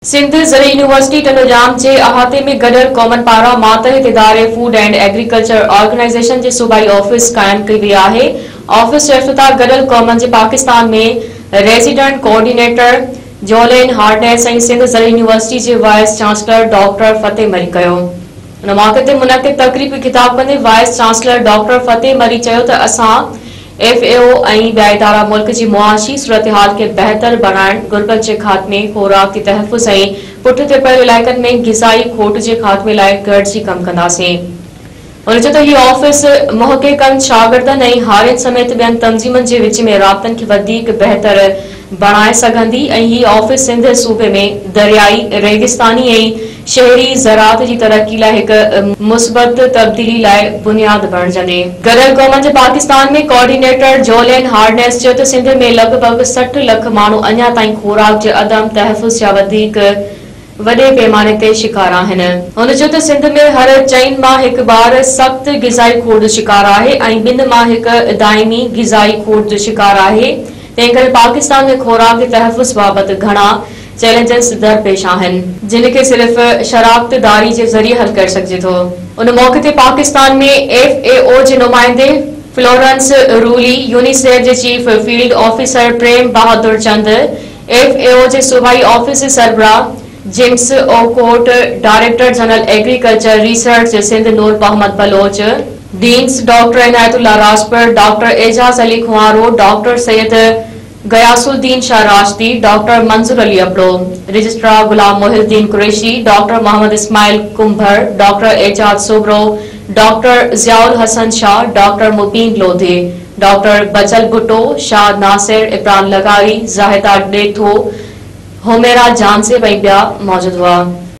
سنڌ زرعي يونيورسٽي ٽنڊوڄام جي احاطي ۾ گڏيل قومن پاران ماتحت اداري فوڊ اينڊ ايگريڪلچر آرگنائيزيشن جي صوبائي آفيس قائم ڪئي وئي آهي آفيس جو افتتاح گڏيل قومن جي Pakistan ۾ resident coordinator Julien Harneis ۽ Sindh زرعي يونيورسٽي جي vice chancellor doctor Fateh Marri ڪيو. ان موقعي تي منعقد تقريب کي خطاب ڪندي vice chancellor doctor Fateh Marri چيو ته اسان ايف اي او ۽ ٻيا ادارا ملڪ جي معاشي صورتحال کي بهتر بڻائڻ، غربت جي خاتمي، خوراڪي تحفظ ۽ پٺ تي پيل علائقن ۾ غذائي کوٽ جي خاتمي لاء گڏجي ڪم ڪنداسين. هن چيو ته هي آفيس محققن، شاگردن ۽ هارين سميت ٻين تنظيمن جي وچ ۾ رابطن کي وڌيڪ بهتر بڻائي سگهندي ۽ هي آفيس سنڌ صوبي ۾ دريائي، ريگستاني ۽ شهري زراعت جي ترقي لاء هڪ مثبت تبديلي لاء بنياد بڻجندي. گڏيل قومن جي پاڪستان ۾ ڪوآرڊينيٽر جولين هارنيس چيو ته سنڌ ۾ لڳ ڀڳ سٺ لک ماڻهو اڃا تائين خوراڪ جي عدم تحفظ جا وڌيڪ وڏي پيماني تي شڪار آهن. هن چيو ته سنڌ ۾ هر چئن مان هڪ ٻار سخت غذائي کوڙ جو شڪار آهي ۽ ٻن مان هڪ دائمي غذائي کوڙ جو شڪار آهي، تنهن ڪري پاڪستان ۾ خوراڪي تحفظ بابت گهڻا چئلينجز درپيش آهن. جن کي صرف شراڪت داري جي ذريعي حل ڪري سگهجي ٿو. ان موقعي تي پاڪستان ۾ ايف اي او جي نمائندي فلورنس رولي، يونيسيف جي chief field officer Prem Bahadur چند، ايف اي او جي صوبائي آفيس جي سربراهه James Okot, director general agriculture research جي Sindh Noor Muhammad Baloch, deans doctor Inayat Ullah Rajpar, doctor Ijaz Ali Khoharo, doctor Syed Ghias Uddin Shah Rashdi, doctor Manzoor Ali Abro, registrar Ghulam Mohi Uddin Qureshi, doctor Muhammad Ismail Kumbhar, doctor Ijaz Soomro, doctor Zia Ulhassan Shah, doctor Mubeen Lodhi, doctor Bachal Bhutto, Shah Nasir, Imran لغاري، زاهده ڏيٿو، حميرا جانسيب ۽ ٻيا موجود هئا.